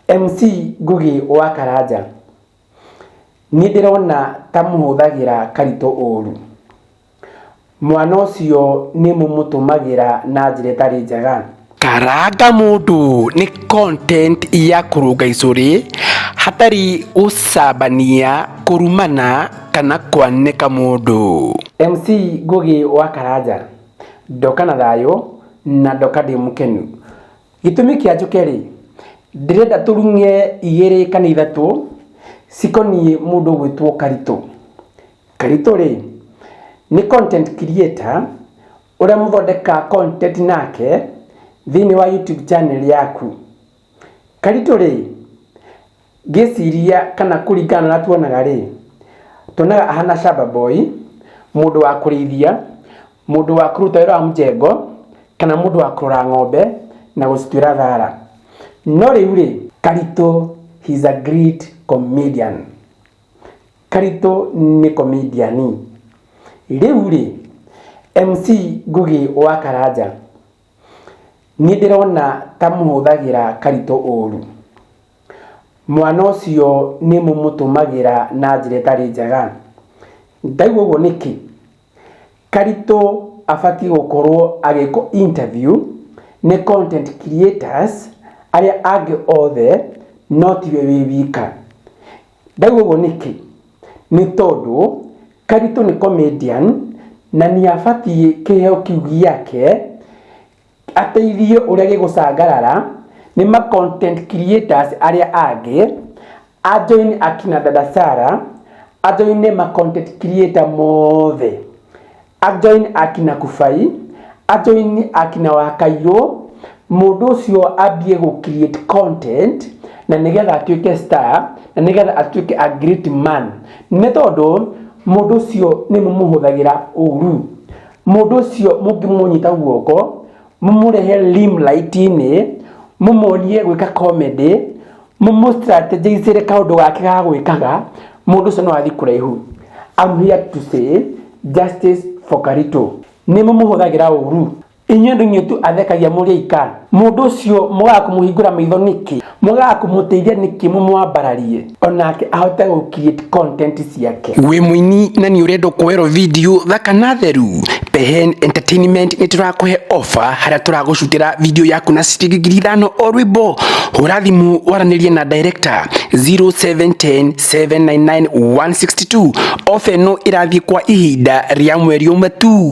MC Ngugi wa Karanja, niĩ ndĩrona ta mũhũthagĩra Karitũ ũru. Mwana ũcio nĩ mũmũtũmagĩra na njĩra ĩtarĩ njega. Karanga mũndũ nĩ content ya kũrũnga icũrĩ hatarĩ gũcambania, kũrumana kana kwanĩka mũndũ. MC Ngugi wa Karanja, ndoka na thayũ na ndoka ndĩ mũkenu. Gĩtũmi kĩa njũke-rĩ, ndĩrenda tũrung'e igĩrĩ kana ithatũ cikoniĩ mũndũ ũgwĩtwo Karitũ. Karitũ-rĩ, nĩ content creator ũrĩa mũthondekaga content nake thĩiniĩ wa YouTube channel yaku. Karitũ-rĩ, Ngĩciria kana kũringana na tuonaga rĩ, tuonaga ahana shamba boy, mũndũ wa kũrĩithia, mũndũ wa kũruta wĩra wa mũjengo, kana mũndũ wa kũrora ng'ombe na gũcituĩra thara. No rĩu rĩ, Karitũ he is a great comedian. Karitũ nĩ komediani. Rĩu rĩ, MC Ngũgĩ wa Karanja, Nĩ ndĩrona ta mũhũthagĩra Karitũ ũũru. Mwana ũcio nĩ mũmũtũmagĩra na njĩra ĩtarĩ njega. Ndaigua ũguo nĩkĩ? Karitũ abatiĩ gũkorwo agĩkwo interview nĩ content creators arĩa angĩ othe no tiwe wĩ wika. ndaigua ũguo nĩkĩ nĩ tondũ karitũ nĩ comedian na nĩ abatiĩ kĩheo kĩu gĩake ateithie ũrĩa gĩgũcangarara nĩ ma content creators arĩa angĩ ajoin akina dada Sara ajoine ma content creator mothe Ajoin akina Kubai, ajoin akina Wakairũ, mũndũ ũcio ambie gũ create content na nĩgetha atuĩke star na nĩgetha atuĩke a great man nĩ tondũ mũndũ ũcio nĩ mũmũhũthagĩra ũru mũndũ ũcio mũngĩmũnyita guoko mũmũrehe limelight-inĩ mũmuonie gwĩka comedy mũmũstrategicĩre kaũndũ gake ga gwĩkaga mũndũ ũcio no athiĩ kũraihu I'm here to say justice for Karito nĩ mũmũhũthagĩra ũru inyuĩ andũ inyuĩ tu athekagia mũrĩ aika mũndũ ũcio mũgaga kũmũhingũra maitho nĩkĩ mũgaga kũmũteithia nĩkĩ mũmwambararie onake ahote gũkiĩ content ciake wĩ mũini na nĩ ũrenda kuoerwo video thaka na theru Pehen Entertainment nĩ tũrakũhe offer harĩa tũragũcutĩra video yaku na ciringi ngiri ithano o rwĩmbo hũra thimũ waranĩrie na director 0710799162 offer ĩno ĩrathiĩ kwa ihinda rĩa mweri ũmwe tu